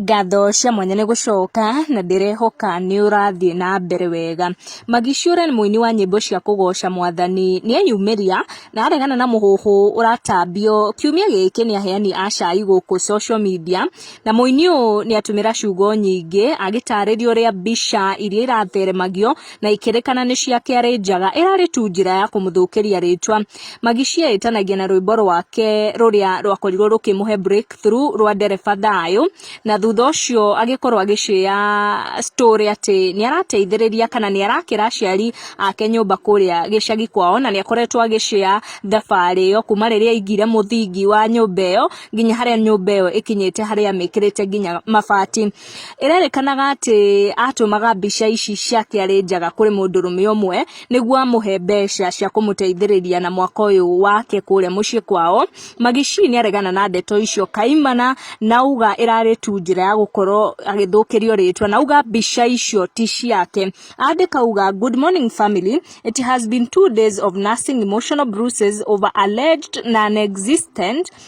Ngatho cia mwanya nĩ gũcoka na ndĩrehoka nĩ ũrathiĩ na mbere wega. Maggie Shure nĩ mũini wa nyĩmbo cia kũgoca mwathani, nĩ eyumĩria na aregana na mũhuhu ũratambio. Kiumia gĩkĩ nĩ aheani a cai gũkũ social media na mũini ũyũ nĩ atũmĩra ciugo nyingĩ agĩtarĩria ũrĩa mbica iria iratheremagio na ikĩrĩkana nĩ cia kĩarĩ njaga ĩrarĩ tu njĩra ya kũmũthũkĩria rĩtwa magi cietanagia na rwĩmbo rwake rũrĩa rwakorirwo rũkĩmũhe breakthrough rwa ndereba thayũ na thutha ũcio agĩkorwo agĩcĩa story atĩ nĩ arateithĩrĩria kana nĩ arakĩra aciari ake nyũmba kũrĩa gĩcagi kwao na nĩ akoretwo agĩcĩa thabarĩ ĩyo kuma rĩrĩa aingire mũthingi wa nyũmba ĩyo nginya harĩa nyũmba ĩyo ĩkinyĩte harĩa amĩkĩrĩte nginya mabati Ĩrerĩkanaga atĩ atũmaga mbica ici ciake arĩ njaga kũrĩ mũndũrũme ũmwe nĩguo amũhe mbeca cia kũmũteithĩrĩria na mwaka ũyũ wake kũrĩa mũciĩ kwao. Maggie Shee nĩ aregana na ndeto icio kaimana na auga ĩrarĩ tu njĩra ya gũkorwo agĩthũkĩrio rĩtwa na auga mbica icio ti ciake. Andĩka auga, Good morning family, it has been two days of nursing emotional bruises over alleged non existent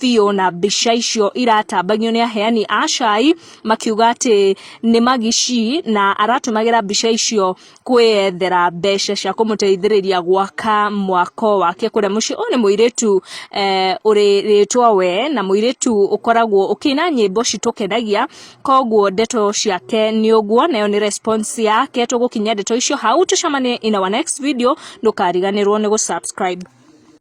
biũ na mbica icio iratambagio nĩ aheani a cai makiuga atĩ nĩ magici na aratũmagĩra mbica icio kwĩyethera mbeca cia kũmũteithĩrĩria gwaka mwako wake kũrĩa mũciĩ. Ũyũ nĩ mũirĩtu eh, ũrĩ rĩtwa we na mũirĩtu ũkoragwo ũkĩina nyĩmbo citũkenagia koguo ndeto ciake nĩ ũguo nayo nĩ response yake tũgũkinyia ndeto icio hau tũcemanie in our next video ndũkariganĩrwo nĩ gũ subscribe